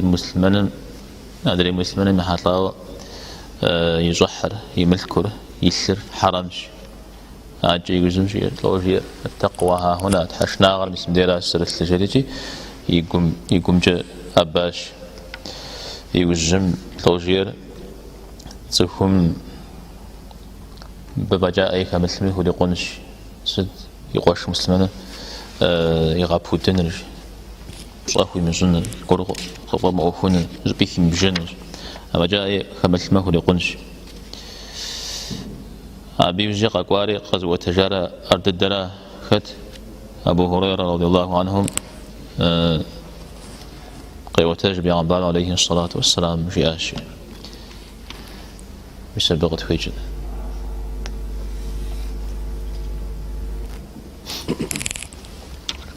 муслъымэным, адрей муслъымэным ехьэлӏауэ и щӏыхьыр, и мылъкур, и лъыр хьэрэмщ. Акӏэ иужьым жиӏэр, лӏо жиӏэр, аттакъуа хьэхьуна, тхьэшынагъэр мисымдейращ зэрылъыр жери икӏи, и гум, и гумкӏэ ӏэбащ. Иужьым, лӏо жиӏэр, цӏыхум абы фӏэкӏа ӏей хэмылъми хурикъунщ, сыт и къуэш муслъымэныр игъэпудыныр жи. пщӏэ хуимыщӏыныр, ар къыфӏэмыӏуэхуныр, зыми химыбжэнырщ, афӏэкӏа ӏей хэмылъми хурикъунщ. Абы иужькӏэ къэкӏуари къэзыӏуэтэжар ар дыдэра? Хэт? Абу Хурейрэ радиаллаху анхум къеӏуэтэж Бегъымбар алейхи салат уассалам жиӏащи. Мис абы къытхуекӏыр.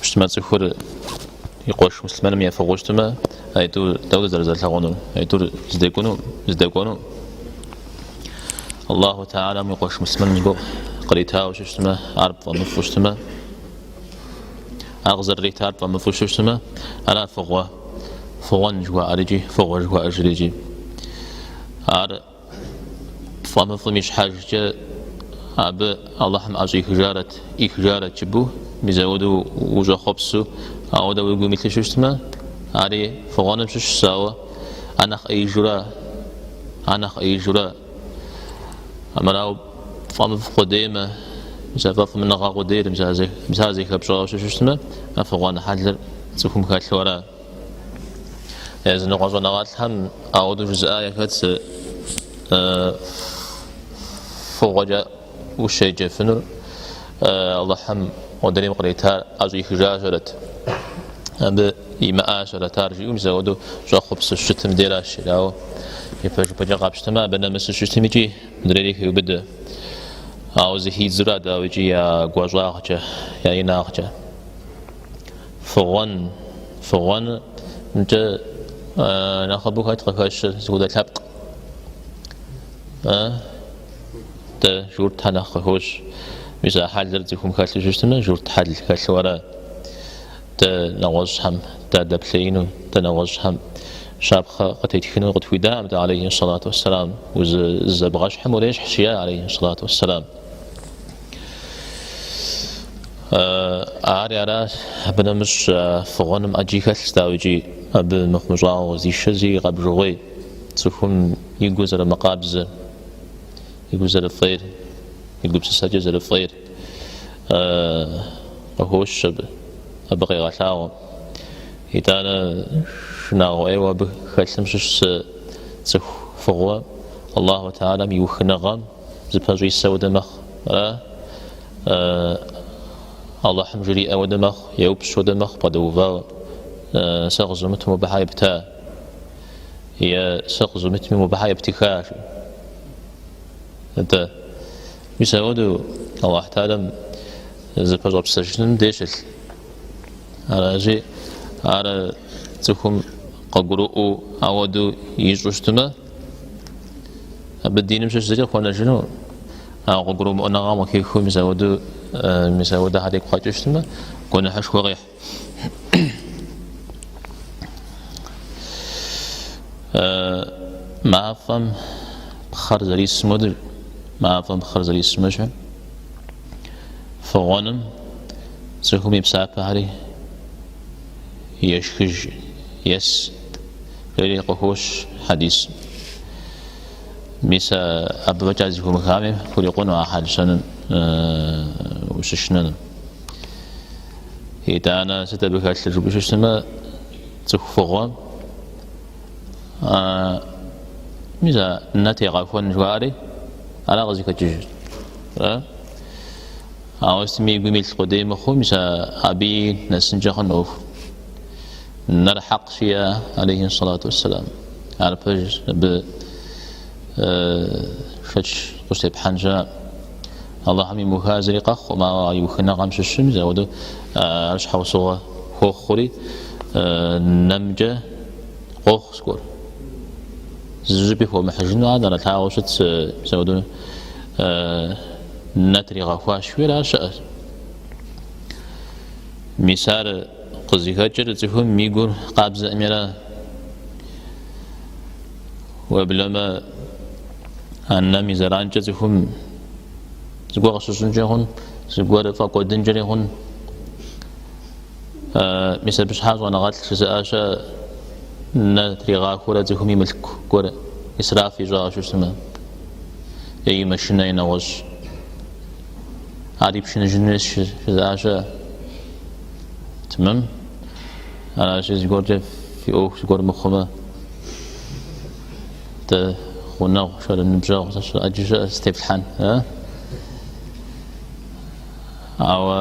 Пщтэмэ цӏыхур и къуэш муслъымэным ефыгъыу щытмэ, а итӏу дауэрэ зэрызэрылъагъунур? А итӏур здэкӏуэну, здэкӏуэну? Аллаху Тэхьэлам и къуэш муслъымэным зыгуэр къритауэ щыщытмэ, ар пфӏэмыфӏу щытмэ, ар къызэрыритар пфӏэмыфӏу щыщытмэ, ара фыгъуэ, фыгъуэн жыхуаӏэр икӏи фыгъуэ жыхуаӏэжыр икӏи. Ар Пфӏэмыфӏым и щхьэжкӏэ абы Алыхьым ӏэщӏихыжарэт, ӏихыжарэт жыпӏэу, мис ауэдэу ущӏэхъуэпсу, ауэдэу уи гум илъу щыщытмэ, ари фыгъуэным щыщщ, ауэ а нэхъ ӏеижу ара, а нэхъ ӏеижу ара. Амырауэ пфӏэмыфӏ къудеймэ, мис а фӏэфӏмыныгъэ къудейр мис ар зэхэпщӏауэ щыщытмэ, а фыгъуэн хьэлыр цӏыхум хэлъу ара? Языныкъуэ щӏэныгъэлӏхэм ауэдэу жызыӏа яхэтщ фыгъуэкӏэ ущеджэфынур Алыхьым модрейм къритар ӏэщӏихыжащэрэт, абы имыӏащэрэт ар жиӏэу мис ауэдэу щӏэхъуэпсу щытым деращ, ауэ ипэжыпӏэкӏэ къапщтэмэ абы нэмысу щытым икӏи модрейри хеубыдэ. Ауэ зэхидзу ара, дауи, икӏи я гуащӏагъкӏэ, я инагъкӏэ. Фыгъуэн, фыгъуэнымкӏэ нэхъыбэу хэт къыхэщыр, зыхудэ лъэпкъ? Дэ журтхэ нэхъ къыхощ. Мис а хьэлыр цӏыхум хэлъу щыщытмэ, журт хьэл хэлъу ара? Дэ нэгъуэщӏхэм дадэплъеину, дэ нэгъуэщӏхэм щапхъэ къытетхыну къытхуидакъым дэ алейхи сэлату уэсселам. Узызэбгъэщхьым урещхьщ, жиӏа алейхи сэлату уэсселам. Ари аращ, абы нэмыщӏ фыгъуэным ӏэджи хэлъщ, дауикӏи абы мыхъумыщӏагъэу къызишэ зи къэбжыгъуей, цӏыхум и гур зэрымыкъабзэр, и гур зэрыфӏейр, и гупсысэкӏэ зэрыфӏейр къыхощ абы, абы къегъэлъагъуэ. Итӏанэ шынагъуэ ӏейуэ абы хэлъым щыщ цӏыху фыгъуэ Аллаху Таалам и ухыныгъэм, Зыпэщӏисэ уэдэ мэхъу, ара? Алыхьым жриӏэ уэдэ мэхъу, еупщӏ уэдэ мэхъу бгъэдэувауэ, Сэ къызумыту мобы хьэ епта? Е Сэ къызумыту мобы хьэ ептыха? жи. Атӏэ, мис ауэдэу Алыхь Таалам зыпэщӏэпсэжыным дей щылъ. Аращи, ар цӏыхум къыгурыӏуэу ауэдэу ищӏу щытмэ, абы диным щыщ зыри къыхуэнэжыну а къыгурымыӏуэныгъэм къыхихыу мис ауэдэхьэр и гу къэкӏыу щытмэ гуэныхьышхуэ къихь мафӏэм пхъэр зэрисым уэдэ мафӏэм пхъэр зэрисым ещхьу фыгъуэным цӏыхум и псапэхьэри ешхыж ес Ери къыхощ хьэдисым. Мис абы фэкӏа зэхыумыхами, хурикъуну а хьэл-щэныр ущышынэным. Итӏанэ сыт абы хэлъыр жыпӏэу щыщымэ, цӏыху фыгъуэм мис а нэ тегъэхуэн жыхуаӏэри, ара къызыхэкӏыжыр. Ауэ сытми и гум илъ къудей мыхъуу, мис абыи нэсынкӏэ хъуну ӏуэху. Нэр хьэкъ жиӏэ, алейхи салату уассалам. Ар пэж абы шэч къыщытепхьэн щыӏэӏым. Аллахьым имыуха зыри къэхъуӏым, ауэ а иухыныгъэм щыщ мис ауэду ар щхьэусыгъуэ хуохъури, нэмкӏэ къохъу зыгуэр. Зыщӏыпӏи хуэмыхьыжыну ар нэрылъагъуу щытщ, ауэду нэ тригъэхуащ, жиӏэр ар щыӏэщ. Мис ар Къызыхэкӏыр цӏыхум и гур къабзэӏыми ара. Уеблэмэ, а нэм и зэранкӏэ цӏыхум зыгуэр къыщыщӏынкӏэ хъун, зыгуэр фӏэкӏуэдынкӏэри хъун. Мис абы щхьа щӏэныгъэлӏ жызыӏа щыӏэ нэ тригъахуэрэ цӏыхум и мылъку гуэр исраф ищӏауэ щыщытмэ, е и машинэ, е нэгъуэщӏ. Ар ипшыныжынущ жызыӏа щыӏэ. Тэмэм. Аращи, зыгуэркӏэ фи ӏуэху зыгуэр мыхъумэ, дэ гъунэгъу, шэры ныбжьэгъу сыт ӏэджи щыӏэ зытеплъхьэн. Ауэ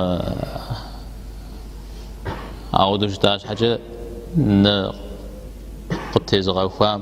ауэдэу щыта щхьэкӏэ нэ къыттезыгъэхуам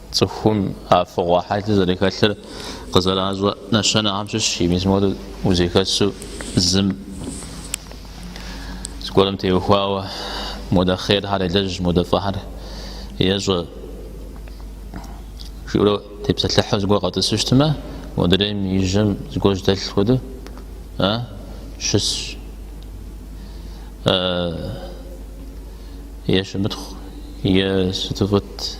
Цӏыхум а фыгъуэ хьэлыр зэрыхэлъыр къызэращӏэ нэщэнэхэм щыщщ, мис моуэ узэхэсу зым зыгуэрым теухуауэ модэ хъерхэр елэжь, модэ фӏыхэр ещӏэ жиӏэурэ тепсэлъыхьу зыгуэр къэтӏысу щытмэ, модрейм и жьэм зыгуэр жьэдэлъ хуэдэу щысщ. Е щымытхъу, е сыту фӏыт.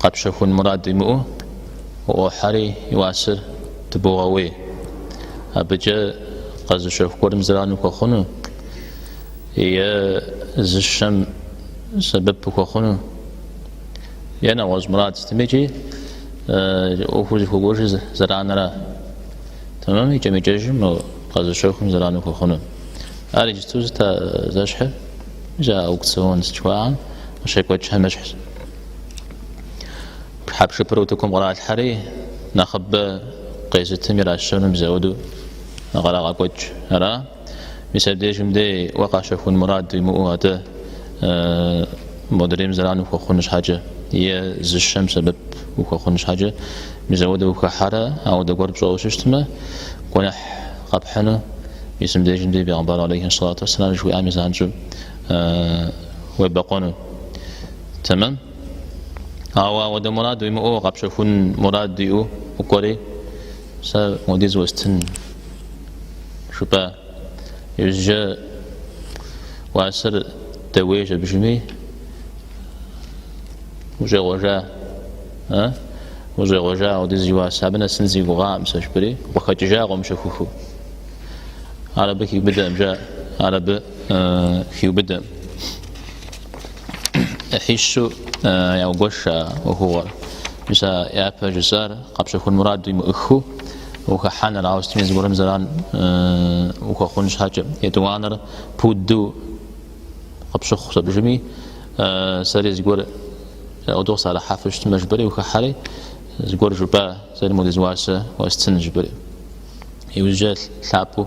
Къэпщэхун мурад уимыӏэу уӏуохьэри и уасэр дыбогъэуей. Абыкӏэ къэзыщэху гуэрым зэрану хуэхъуну е зыщэм сэбэп хуэхъуну е нэгъуэщӏ мурад сытми икӏи ӏуэхур зыхуэкӏуэжыр зэранэра. Тэмэм икӏэм-икӏэжым къэзыщэхум зэрану хуэхъуну. Ар иджыпсту сыт а зэщхьыр, зы аукцион жыхуаӏэм къыщекӏуэкӏхэм ещхьщ. Хьэпшыпыр утыкум къралъхьэри, нэхъыбэ къезытым иращэну мис ауэдэу къырагъэкӏуэкӏ. Ара? Мис абдежым дей уэ къэпщэхун мурад уимыӏэу атӏэ э, модрейм зэран ухуэхъун щхьэкӏэ, е зыщэм сэбэп ухуэхъун щхьэкӏэ мис ауэдэу ухэхьэрэ, ауэдэ гуэр пщӏэу щытмэ, гуэныхь къэпхьыну, мис мыбдежым дей Бегъымбар алейхи салату вассалам жыхуиӏами занщӏэу э, уебэкъуэну. Тэмэм? Ауэ ауэдэ мурад уимыӏэу къэпщэхун мурад уиӏэу укӏуэри, сэ модиз уэстын жыпӏа? Иужьрэ уасэр дэуейщ абдежми ущӏегъуэжа? А? Ущӏегъуэжа ауэдиз и уасэ? Абы нэсын си гугъаӏым сэ жыпӏэри, укъыхэкӏыжа къомыщэхуху. Ар абы хиубыдэӏым, жа, ар абы хиубыдэӏым. ӏыхьищу яугуэш а ӏуэхугъуэр. Мис а япэ жысӏар къэпщэхун мурад уимыӏыхыу ухыхьэныр ауэ сытми зыгуэрым зэран ухуэхъун щхьэкӏэ. Етӏуанэр пуду къыпщыхъущ абдежми, сэри зыгуэр пуду къысӏэрыхьэфу щытмэ жыпӏэри ухыхьэри, зыгуэр жыпӏа, сэри модиз уасэ уэстын жыпӏэри. Иужьрэ лъапӏэу